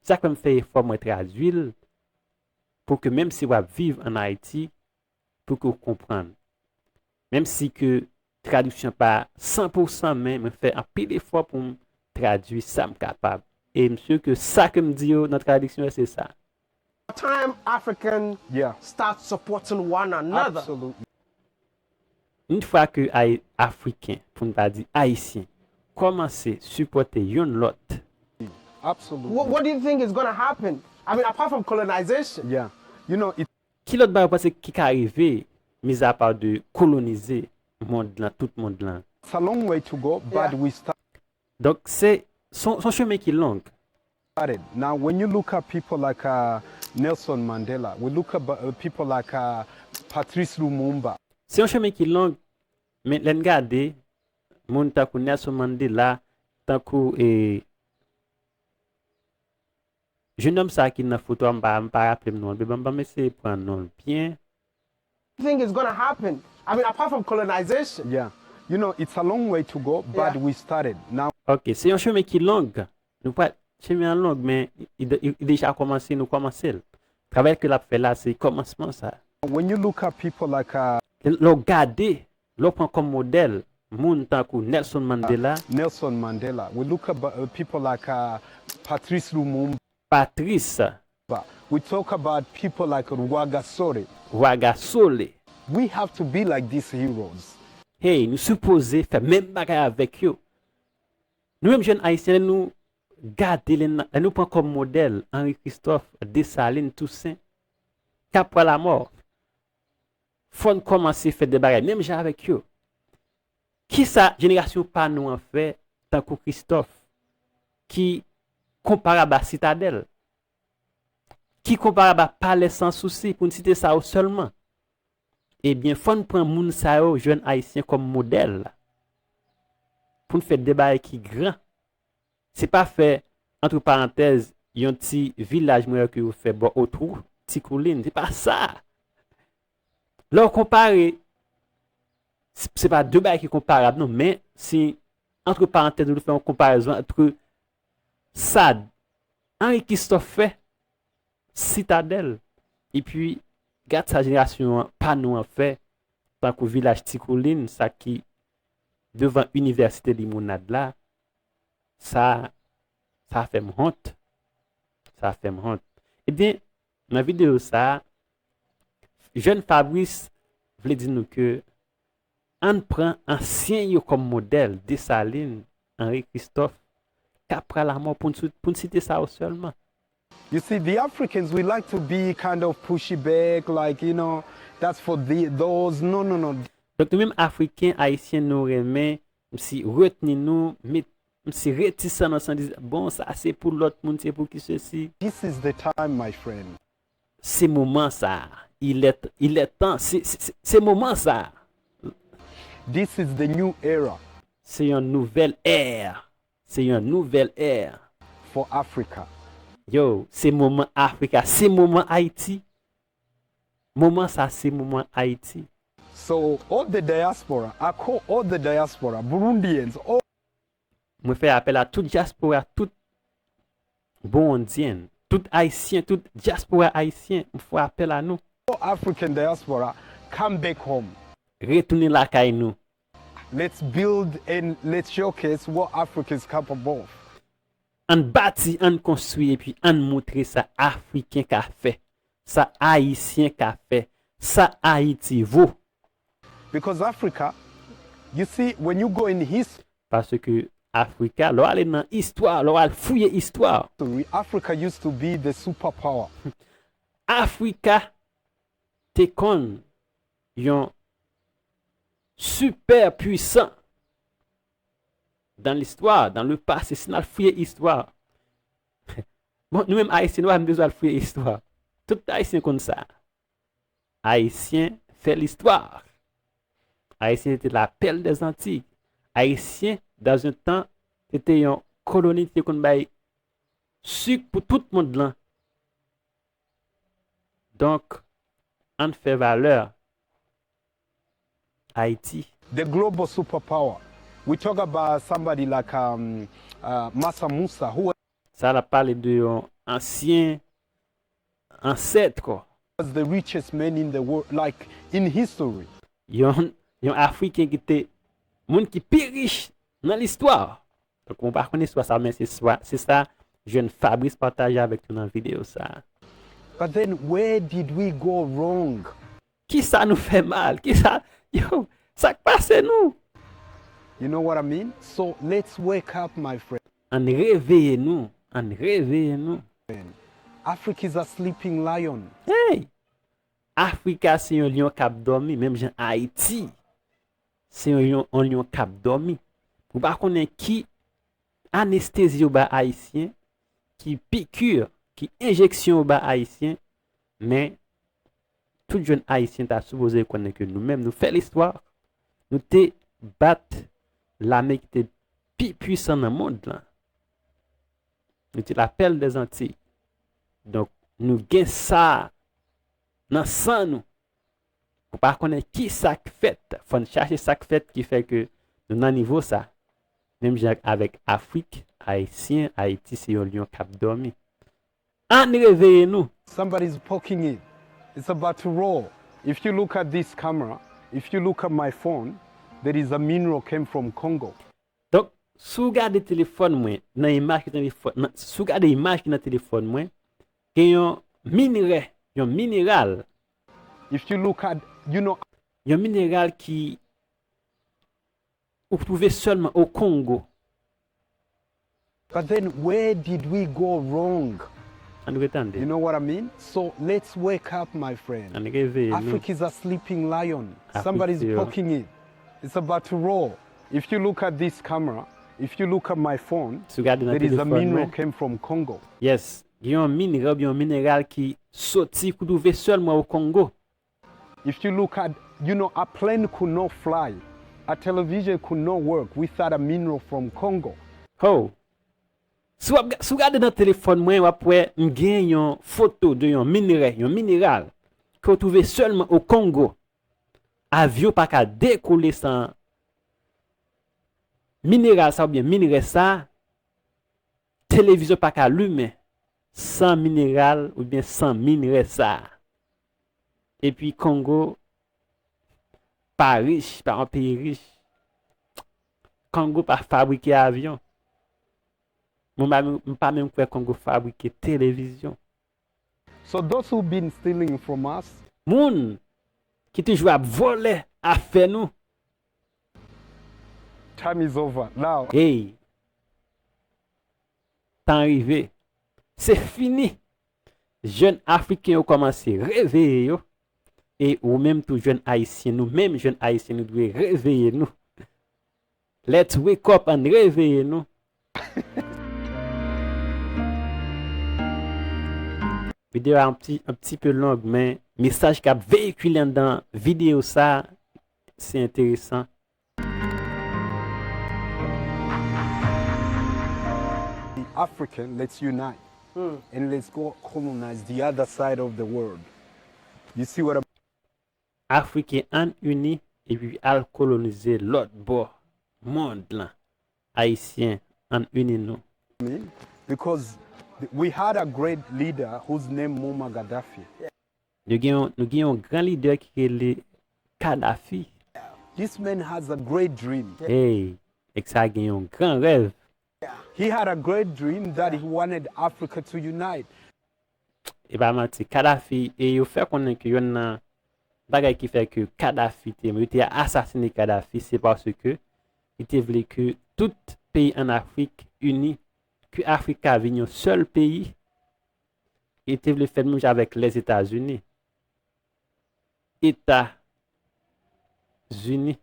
Sak fèm fè efò mwen traduil pou ke menm si wap viv an Ayiti pou ke ou konprann. Menm si ke tradiksyon pa 100 pou 100 men mwen fè anpil efò poum tradui sam kapab. E msur ke sa kem di yo nan tradiksyon yo se sa. Time African start supporting one another. Yn fwa ke Afriken, pou n pa di Ayisyen, kòmanse sipòte yonn lòt. What do you think is gonna happen? I mean, apart from colonization, you know. Ki lòt bagay ou panse ki ka rive mizapa de kolonize mond lan, tout mond lan? It's a long way to go, but we start. Donk se son chemen ki long. Got it. Now when you look at people like a Nelson Mandela, we look at people like a Patrice Lumumba. Se yon chemen ki long, men lè n gade moun tankou Nelson Mandela, tankou e. Jenòm sa ki nan foto a m pa m pa raplem non l byen banm eseye pran non l byen. Thing is gonna happen I mean apart from colonization. Yeah you know it's a long way to go but we started now. Ok se yon chemen ki long nou pral chemen an long men li deja kòmanse nou kòmanse l travay ke lap fè la se kòmansman sa. When you look at people like. Lè w gade Lè w pran kòm modèl moun tankou Nelson Mandela. Nelson Mandela. We look up people like Patrice Lumumba. Patrice. We talk about people like Rwagasore. Rwagasore. We have to be like these heroes. Hey, nou sipoze fè menm bagay avèk yo. Nou menm jèn Ayisyen lè nou gade, lè nou pran kòm modèl Henri Christophe, Dessalines, Toussaint, Capois la Mort. Fò n kòmanse fè de bagay menm jan avèk yo. Ki sa jenerasyon pa nou an fè tankou Kristòf ki konparab a Sitadèl, ki konparab a Palè San Sousi pou n site sa yo sèlman? Ebyen fò n pran moun sa yo, jèn Ayisyen kòm modèl pou n fè de bagay ki gran Se pa fè antre parantèz yon ti vilaj mwen wè ke yo fè bò otwou ti koulin. Se pa sa! Lè w konpare, se pa de bagay ki konparab non, men si antre parantèz nou fè yon konparezon antre sa Anri Kistòf fè Sitadèl epi gad sa jenerasyon an pa nou an fè tankou vilaj ti koulin sa ki devan inivèsite limonad la Sa, sa fè m hont. Sa fè m hont. Ebyen, nan videyo sa, jèn Fabrice vle di nou ke ann pran ansyen yo kòm modèl, Desalin, Anri Kristòf, Kapra Lamò pou n site sa yo sèlman. You see the Africans we like to be kind of pushy back like you know that's for those no no no. Donk nou menm Afriken, Ayisyen nou renmen Msi retni nou met msi retisan nan sans di bon sa se pou lot moun se pou ki sesi. This is the time my friend. Se moman sa a. Il est il est tan se se moman sa a. This is the new era. Se yon nouvèl ère. Se yon nouvèl ère. For Africa. Yo, se moman Africa. Se moman Ayiti. Moman sa se moman Ayiti. So all the diaspora ako all the diaspora Burundians oh. Mwen fè apèl a tout dyaspora tout Burundian tout Ayisyen tout dyaspora Ayisyen m fè apèl a nou. All African diaspora come back home. Retounen lakay nou. Let's build and let's showcase what Africa is capable of. Ann bati, ann konstwi epi ann moutre sa Afriken ka fè, sa Ayisyen ka fè, sa Ayiti vo. Because Africa, you see, when you go in his. Paske Afrika, lè w ale nan istwa, lè w al fouye istwa. Ri, Africa used to be the superpower. Afrika te konn yon sipè pwisan Dans l'histoire, dans le passé, si nal fouye istwa, bon nou menm ayisyen nou pa menm bezwen al fouye istwa. Tout ayisyen konn sa. Ayisyen fè l'histoire. Ayisyen te la perle des Antilles. Ayisyen dans un tan se te yon koloni ki te konn bay sik pou tout mond lan. Donk ann fè valè Haiti. The global super power we talk about somebody like um Massa Moussa who was. Sa lap pale de yon ansyen ancêtre. The richest man in the world like in history. Yon yon afriken ki te moun ki pi rich nan listwa. Donk mwen pa konn istwa sa men se swa se sa jèn Fabrice pataje avèk nou nan video sa. But then where did we go wrong? Kisa nou fè mal kisa yow sak pase nou. You know what I mean so let's wake up my friend. Ann reveye nou ann reveye nou. Africa is a sleeping lion. Hey! Africa se yon lyon kap dòmi menm jan Ayiti se yon yon lyon kap dòmi. Mwen pa konnen ki anestezi yo ba ayisyen, ki piqûre, ki enjeksyon yo ba ayisyen. Men, tout jèn Ayisyen ta sipoze konnen ke nou menm nou fè listwa, nou te bat lame ki te pi pwisan nan mond lan. Nou te la pèl dè Zantiy. Donk, nou gen sa nan san nou. Pou pa konnen ki sa k fèt, fò n chache sa k fèt ki fè ke nou nan nivo sa. Menm jan avèk Afrik, Ayisyen, Ayiti se yon lyon k ap dòmi. Ann reveye nou! Somebody's poking it it's about to roll if you look at this camera if you look at my phone there is a mineral came from Congo. Donk, si w gade telefòn mwen, nan imaj ki nan telefòn, si w gade imaj ki nan telefòn mwen, gen yon minrè, yon mineral, If you look at, you know. yon mineral ki Ou k trouve selman o kongo. But then where did we go wrong? Ann rete ann de. You know what I mean? So let's wake up my friend. Ann reveye nou. Africa is a sleeping lion. Somebody is poking it. It's about to roar. If you look at this camera, if you look at my phone, Si w gade nan there is a telefòn mwen. mineral came from Congo. Yes, gen yon mineral oubyen yon mineral ki soti, k trouve selman o kongo. If you look at you know a plane could not fly, a television could not work without a mineral from Congo. Hoo. Si wap si w gade nan telefòn mwen wap wè m gen yon foto de yon minrè, yon mineral ke w twouve sèlman o Kongo. Avyon pa ka dekole san mineral sa oubyen minrè sa. Televizyon pa ka limen san mineral oubyen san minrè sa a. Epi Kongo pa rich, pa yon peyi rich. Kongo pa fabrike avyon. Mwen pa menm kwè Kongo fabrike televizyon. So those who been stealing from us. Moun ki toujou ap vòlè afè nou. Time is over now. Hey! Tan rive. Se fini! Jèn Afriken yo kòmanse reveye yo. E ou menm tou jèn Ayisyen, nou menm jèn Ayisyen nou dwe reveye nou. Let's wake up, ann reveye nou. Videyo a yon pti, yon pti peu long men mesaj kap veyikile anndan videyo sa. se enteresan. The African let's unite and let's go colonize the other side of the world you see what I'm. Afriken ann ini epi al kolonize lòt bò mond lan ayisyen ann ini nou. Mean because we had a great leader whose name Muammar Gaddafi. Nou gen yon nou gen yon gran lidè ki rele Kadhafi. This man has a great dream. Hey, nèg sa gen yon gran rèv. He had a great dream that he wanted Africa to unite. E pa manti, Kadhafi, e yo fè konnen ke yonn nan bagay ki fè ke Kadhafi te, yo te asasine Kadhafi se paske li te vle ke tout peyi an Afrik ini, ke Afrik ka vin yon sèl peyi. Li te vle fè menm jan avèk Lèzetazini, Eta Zini.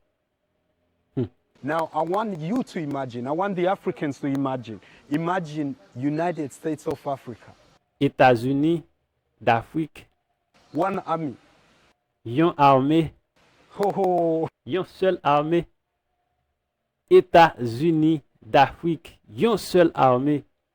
Hum. Now I want you to imagine, I want the Africans to imagine, imagine United States of Africa. Etazini Dafrik. One army. Yon ame. Ho ho! Yon sèl ame. Eta Zini Dafrik. Yon sèl ame.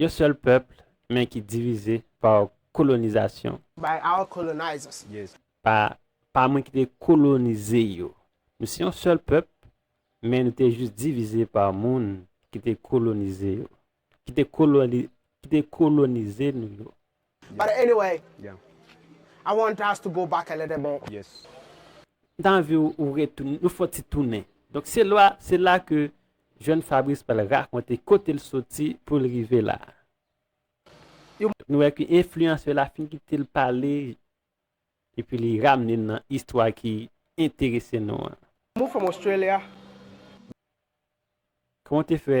Yon sèl pèpl men ki divize pa kolonizasyon. By our colonizers. Pa pa moun ki te kolonize yo. Nou se yon sèl pèpl men nou te jis divize pa moun ki te kolonize yo. Ki te kolonize nou yo. But anyway I want us to go back a little bit. M ta anvi ou retounen, nou fè yon ti tounen. Donk se lwa, se la ke jèn Fabrice pral rakonte kote l soti pou l rive la. Nou wè ke enfliyansè la fin kite l pale epi li ramne n nan istwa ki enterese nou an. Move from Australia. Kòman w te fè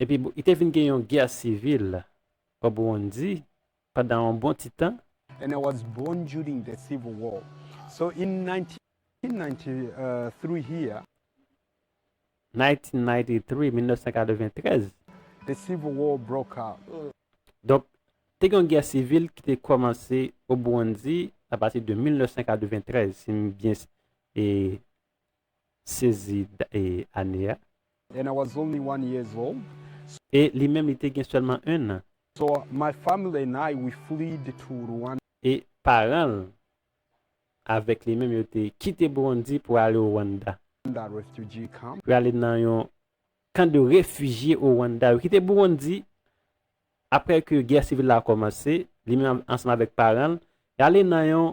Epi bon, li te vin gen yon gè sivil o Burundi pandan yon bon ti tan. Donk, te gen yon gè sivil ki te kòmanse o Burundi apati de 1993, si m byen sezi ane a. And I was only one years old. E li menm li te gen sèlman ennan. So my family and I we fleed to Rwanda. E paran l avèk li menm yo te kite Burundi pou ale o Rwanda. Rwanda refugee camp. Pou ale nan yon kan de refijye o Rwanda. Yo kite Burundi apre ke gè sivil la kòmanse, li menm ansanm avèk paran l, y ale nan yon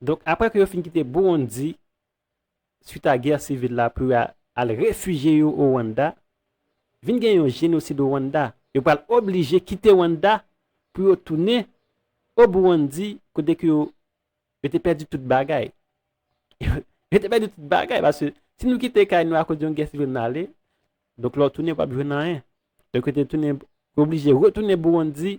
Donk aprè ke yo fin kite Burundi swit a gè sivil la pou yo al refijye yo o Rwanda, vin gen yon jenosid o Rwanda. Yo pral oblije kite Rwanda pou yo tounen o Burundi kote ke yo te pèdi tout bagay. Yo te pèdi tout bagay paske si nou kite kay nou akoz yon gè sivil nou ale, donk lè w tounen ou pap jwenn anyen. Donk yo te tounen, yo oblije retounen Burundi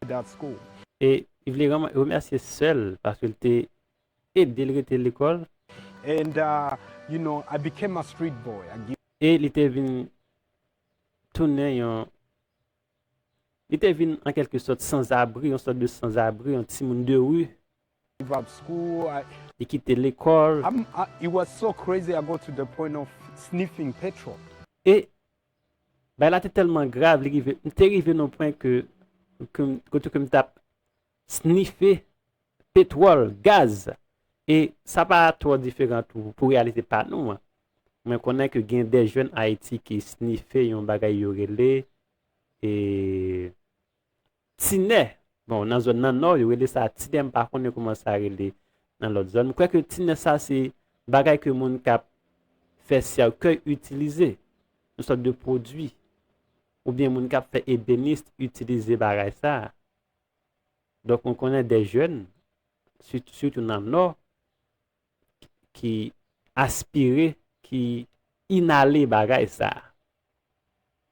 without school. E li vle remèsye sè l paske l te ede l rete lekòl. And you know I became a street boy. E li te vin tounen yon Li te vin an kèlke sòt sanzabri, yon sòt de sanzabri, yon timoun de ri. Give up school. Li kite lekòl. It was so crazy I got to the point of sniffing petrol. E Bagay la te tèlman grav, li rive, m te rive non pwen ke, kote ke m tap snife petwòl, gaz, e sa pa twò diferan tou pou reyalite pa nou an. Mwen konnen ke gen de jèn Ayiti ki snife yon bagay yo rele, e, Tinè, bon nan zòn nan nò yo rele sa tinè m pa konnen kouman sa rele nan lòt zòn, m kwè ke tinè sa se bagay ke moun k ap fè sèkèy itilize, yon sòt de pwodui oubyen moun k ap fè ebenist itilize bagay sa, donk mwen konnen dè jèn sitou nan nò. ki aspire, ki inale bagay sa a,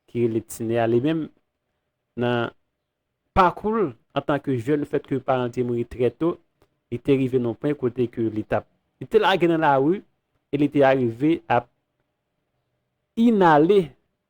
ki rele tinè a, li menm nan pakou l antan ke jèn, fèt ke paran l te mouri trè to, li te rive nan yon pwen kote ke li t ap, li te lage nan lari, e li te arive ap inale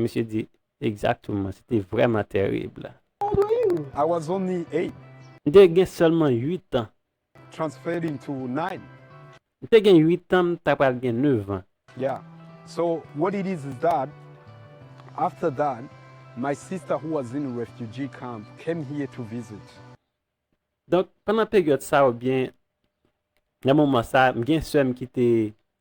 Misye di egzakteman, se te vrèman tèrib. I was only eight. M te gen sèlman uit an. Transferred into nine. M te gen uit an, m ta pral gen nevan. Yeah. So, what it is is that, after that, my sister who was in refugee camp came here to visit. Donk, pandan peryòd sa a oubyen nan moman sa a, m gen sè m ki te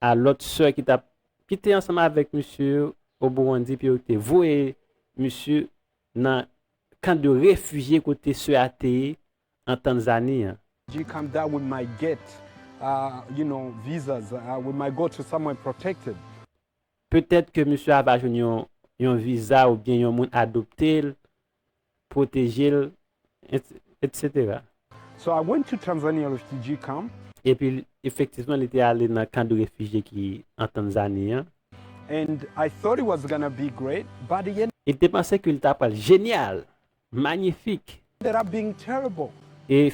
a lòt sè ki tap ki te ansanm avèk misye yo o Burundi epi yo te voye misye nan kan de refijye kote sè a te ye an Tanzani an. J come da we might get uh you know visas uh we might go to somewhere protected. Petèt ke misye a va jwenn yon yon viza oubyen yon moun adopte l pwoteje l, etc. So I went to Tanzania refugee camp. Epi efektivman li te ale nan kan de refijye ki an Tanzani an. And I thought it was gonna be great, by the end. E li te panse ke li ta pral jenyal, manyifik. Ended up being terrible. E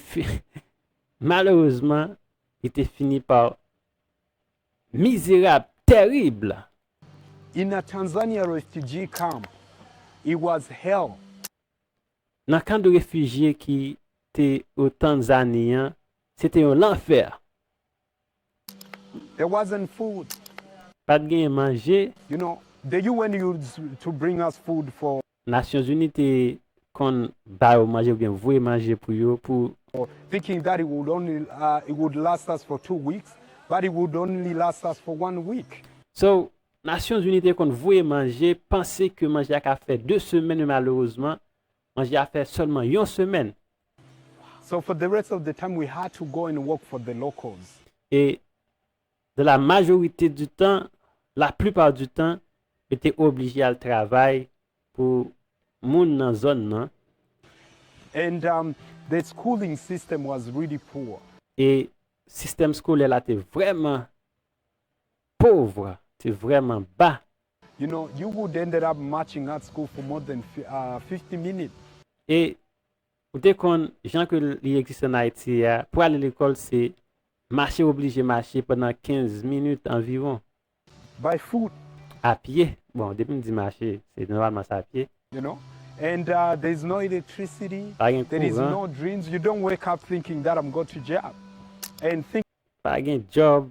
malerezman li te fini pa Mizerab terrible! In a Tanzania refugee camp, it was hell. Nan kan de refijye ki te o Tanzani an, se te yon lanfè. There wasn't food. Pa t genyen manje. You know, the UN used to bring us food for. Nasyon zini te Kon ba yo manje oubyen voye manje pou yo pou. thinking that it would only it would last us for two weeks but it would only last us for one week. So, Nasyon zini te Kon voye manje panse ke manje a ka fè 2 semèn men malerezman manje a fè sèlman yon semèn. So for the rest of the time we had to go and work for the locals. E Dans la majorité du temps, la plupart du temps, yo te oblije al travay pou moun nan zòn nan. And their schooling system was really poor. E sistèm skolè la te vrèman pauvre, te vrèman ba. You know, you would ended up marching at school for more than fifty minutes. E Ou te konn jan ke li egziste an Ayiti a, pou ale lekòl se mache oblije mache pandan 15 minit anviwon. Bay fout! A pye. Bon, depi m di mache, se nòmalman se a pye. You know? And there's no electricity, Pa gen there is kouran. no dreams, you don't wake up thinking that I'm go to job and think. Pa gen djòb,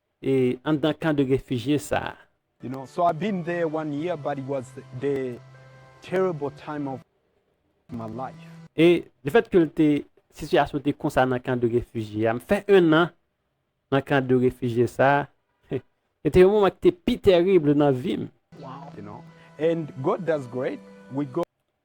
e anndan kan de refijye sa a. You know so I been there one year but it was the terrible time of my life. E lefètke l te sitiyasyon te konsa nan kan de refijye a, m fè ennan nan kan de refijye sa a, se te yon moman ki te pi tèrib nan vi m. You know and God does great we go.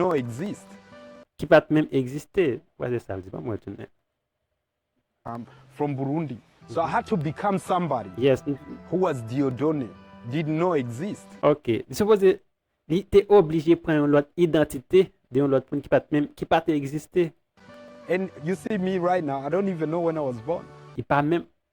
non existe. Ki pat menm egziste. Wè se sal di banm wè tounen. I'm from Burundi so I had to become somebody Yes m. who was Dieudonne did non existe. Ok li sipoze li te oblije pran yon lòt idantite de yon lòt moun ki pat menm ki pat egziste. And you see me right now I don't even know when I was born. Li pa menm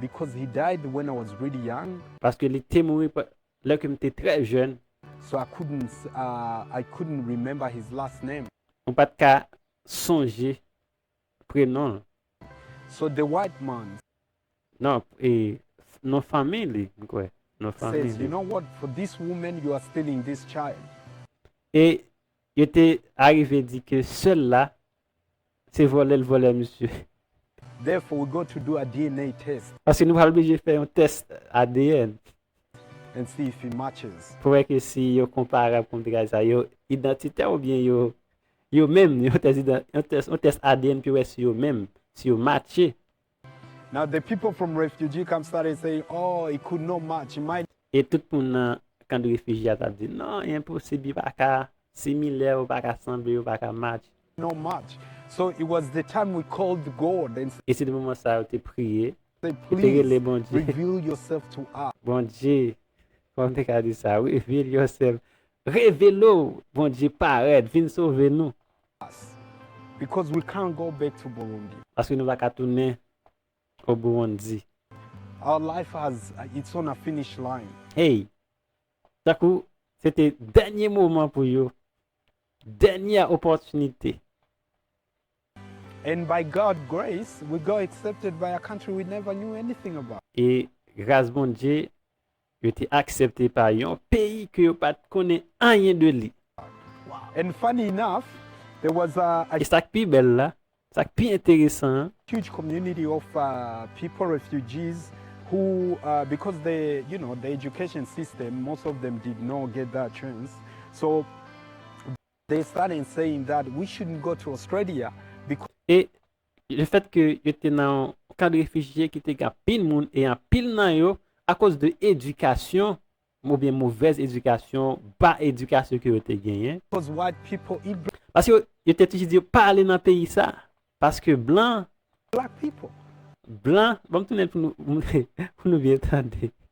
Because he died when I was really young. Paske li te mouri lè ke m te trè jèn. So I couldn't, I couldn't remember his last name. Mwen pa t ka sonje prenon l. So the white man. Non, e, non fanmi li, m kwè. Non fanmi li. Says, You know what, for this woman you are stealing this child. E yo te arive di ke sè l la Se vòlè l vòlè misye. Therefore we going to do a DNA test. Paske nou pral oblije fè yon tès adn. And see if it matches. Pou wè ke si yo konparab kòm tray sa yo idantitè ou byen yo yo menm yon tès yon tès yon tès adn pou wè si yo menm si yo matche. Now the people from refugee camp started saying oh it could not match, it might. E tout moun nan kan de refijye a tap di, non, e enposib, yo pa ka similè, yo pa ka sanble, yo pa ka match. not match. So it was the time we called God and. E se te moman sa a yo te priye, said, yo te rele Please Bondye. reveal yourself to us. Bondye, kòman m te ka di sa, reveal yourself, revele w, Bondye, parèt, vin sove nou. us, because we can't go back to Burundi. Paske nou pa ka tounen o Burundi. Our life has it's on a finish line. Hey! Tankou se te dènye moman pou yo, dènyè opòtinite. And by God grace, we got accepted by a country we never knew anything about. E gras Bondye, Yo te aksepte pa yon peyi ke yo pat konnen anyen de li. And funny enough, there was a. E sak pi bèl la, sak pi enteresan an. Huge community of people, refugees, who because the, you know, the education system, most of them did not get that chance, so. They start and saying that we shouldn't go to Australia because. E le fèt ke yo te nan yon kan de refijye ki te gen anpil moun e anpil nan yo akoz de edikasyon oubyen movèz edikasyon, ba edikasyon ke yo te genyen. Because white people eat black. Paske yo te toujou di yo pa ale nan peyi sa a paske blan. Black people. Blan, banm tounen l pou nou byen tande.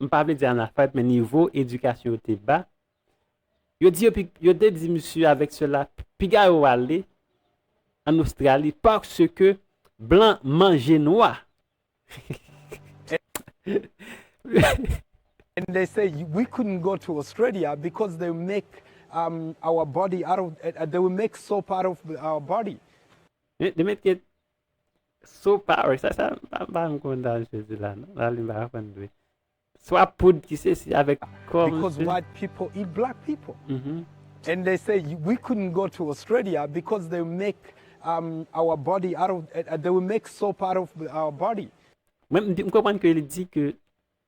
m pa vle di analfabèt men nivo edikasyon yo te ba, yo di yo pi, yo te di misye avèk sela piga yo ale an Ostrali paske blan manje nwa. And they say we couldn't go to Australia because they will make our body out of, they will make soap out of our body. They make it Sou pa wè sa sa pa pa m konn dan jezi la non la li m pa konn dwe. Swa poud ki se si avèk kò misye. Because white people eat black people and they say we couldn't go to Australia because they make our body out of they make soap out of our body. Mwen m konprann ke li di ke.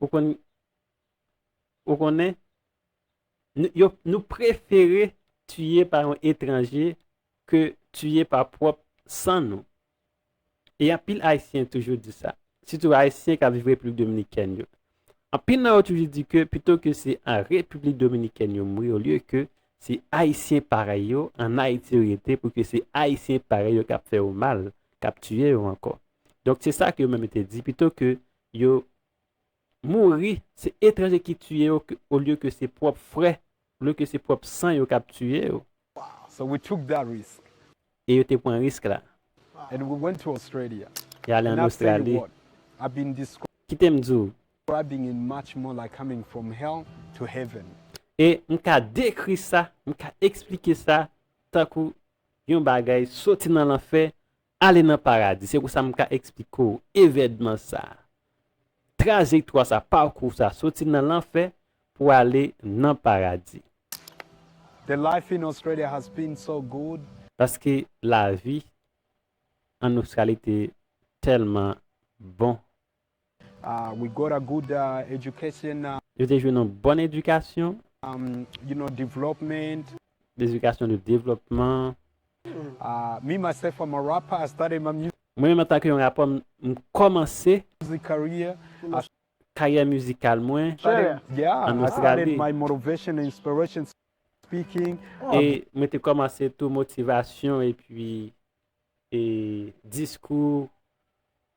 Ou konn Ou konnen Nou yo Nou prefere tiye pa yon etranje ke tiye pa pwòp san nou e anpil ayisyen toujou di sa sitou ayisyen kap viv repiblik dominikèn yo anpil nan yo toujou di ke pito ke se an repiblik dominikèn yo mouri olye ke se ayisyen parèy yo an ayiti yo rete pou ke se ayisyen parèy yo kap fè yo mal kap tiye yo ankò donk se sa ke yo menm yo te di pito ke yo mouri se etranje ki tiye yo olye ke se pwop frè olye ke se pwop san yo kap tiye yo. E yo te pran risk la. E ale an Ostrali. Kitem di w. E m ka dekri sa, m ka eksplike sa tankou yon bagay soti nan lanfè Ale nan paradi, se konsa m ka eksplike w evènman sa, trajektwa sa, pakou sa, soti nan lanfè pou ale nan paradi. The life in Australia has been so good. Paske lavi an Ostrali te tèlman bon. We got a good education. Yo te jwenn yon bòn edikasyon. You know, development. Edikasyon de devlòpman. Me, myself, I'm a rapper. I started my music. Mwen menm antanke yon rapè m kòmanse. Music career. Karyè mizikal mwen. Australia. Yeah, I started my motivation and inspiration speaking. E mwen te kòmanse tou motivasyon epi diskou.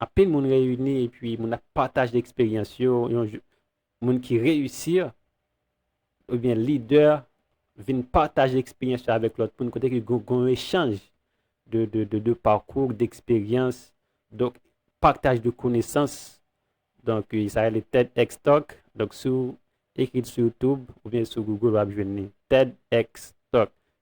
Anpil moun reyini epi moun ap pataje eksperyans yo, yon jou moun ki reyisi oubyen lidè vin pataje eksperyans yo avèk lòt moun kote ke gen yon echanj de pakou, d'eksperyans, donk pataj de konesans, donk sa rele TEDxTalk, donk si w ekri l sou youtube oubyen sou google wap jwenn li, TEDxTalk,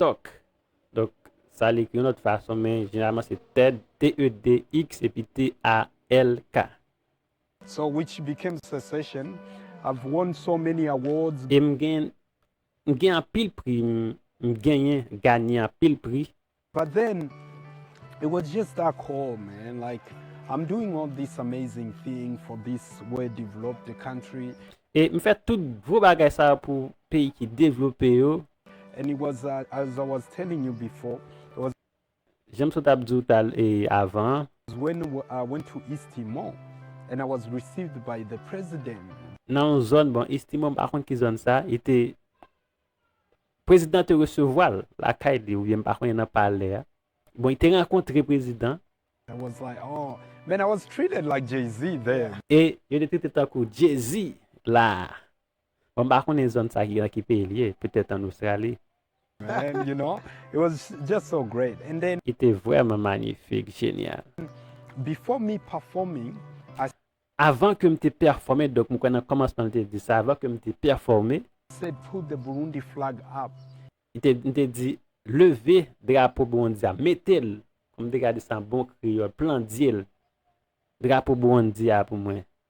Tok. Donk, sa l ekri yon lòt fason, men jeneralman se Ted, T-E-D-X, epi T-A-L-K. So which became sensation, I've won so many awards. E m gen, m gen anpil pri, m, m genyen, ganye anpil pri. But then, it was just that call, man, like, I'm doing all this amazing thing for this way developed country. E m fè tout gwo bagay sa yo pou peyi ki devlope yo, And it was as I was telling you before, it was. Janm sot ap di w tal e avan an. When I went to East Timor and I was received by the president. Nan yon zòn, bon East Timor m pa konn ki zòn sa, e te Prezidan an te resevwa l lakay li oubyen m pa konnen nan palè a. Bon li te rankontre prezidan. I was like, oh, man I was treated like Jay-Z there. E yo te trete tankou Jay-Z la a. Bon m pa konnen zòn sa ki nan ki peyi li ye, petèt an Ostrali. And you know, it was just so great and then. Li te vrèman manyifik, jenyal. Before me performing, I. Avan ke m te pèfòme, donk m kwè nan kòmansman li te di sa, avan ke m te pèfòme. Said put the Burundi flag up. Li te di, m te di, leve drapo Burundi a, mete l, kòman m te ka di sa an bon kreyòl, plandye l, drapo Burundi a pou mwen.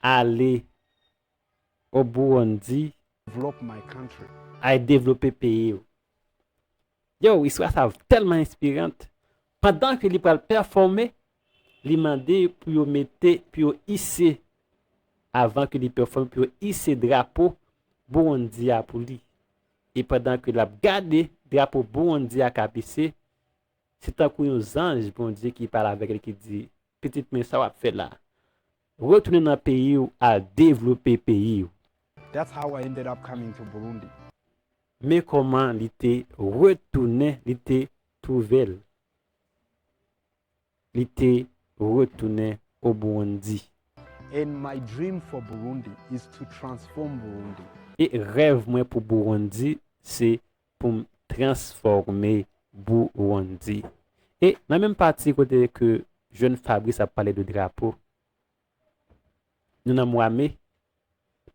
Ale o Burundi ay devlope peyi w. Yow istwa sa tèlman enspirant, pandan ke li pral pèfòme, li mande pou yo mete, pou yo ise, avan ke li pèfòme, pou yo ise drapo Burundi a pou li. E pandan ke lap gade drapo Burundi a kap ise, Se tankou yon zanj Bondye ki pale avèk li ki di, Pitit mwen, sa w ap fè la? Retounen nan peyi w al devlope peyi w. That's how I ended up coming to Burundi. Men kòman li te retounen, li te twouve l. Li te retounen o Burundi. And my dream for Burundi is to transform Burundi. E rèv mwen pou Burundi se pou m transfòme Burundi. E nan menm pati kote ke jèn Fabrice ap pale de drapo, nou nan mwa me,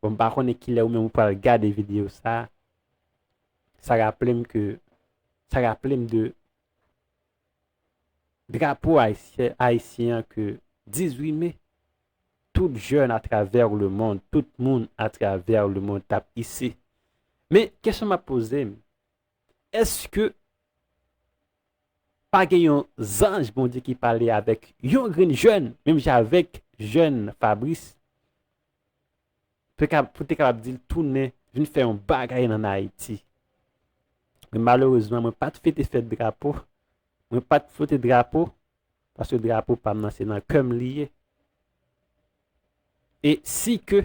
bon m pa konnen kilè ou menm ou pral gade videyo sa, sa raple m ke, sa raple m de, Drapo Ayisyen an ke 18 me, tout jèn atravè lemond, tout moun atravè lemond tap ise. Men, kesyon map poze m, eske pa gen yon zanj Bondye ki pale avèk yon grenn jèn, menm jan avèk jèn Fabrice? pou te kapab di l tounen vin fè yon bagay an Ayiti. Men malerezman mwen pa t fete fèt drapo, mwen pa t flote drapo, paske drapo pa m nan se nan kè m li ye. E si ke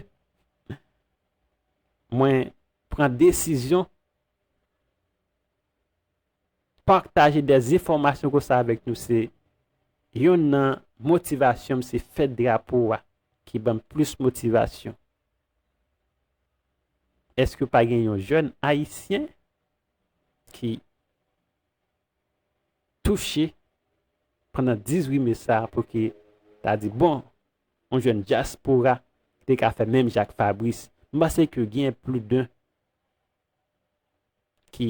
mwen pran desizyon, Partaje de enfòmasyon konsa avèk nou se Yonn nan motivasyonm se fèt drapo a ki banm plis motivasyon eske pa gen yon jèn ayisyen ki touche pandan 18 me sa pouki ta di bon yon jèn dyaspora te ka fè menm jan ak Fabrice m panse ke gen pli de ki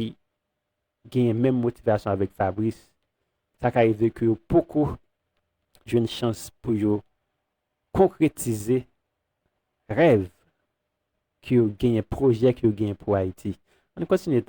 genyen menm motivasyon avèk Fabrice, sa ka rive ke yo poko jwenn chans pou yo konkretize rèv ke yo genyen, pwojè ke yo genyen pou Ayiti. Ann kontinye.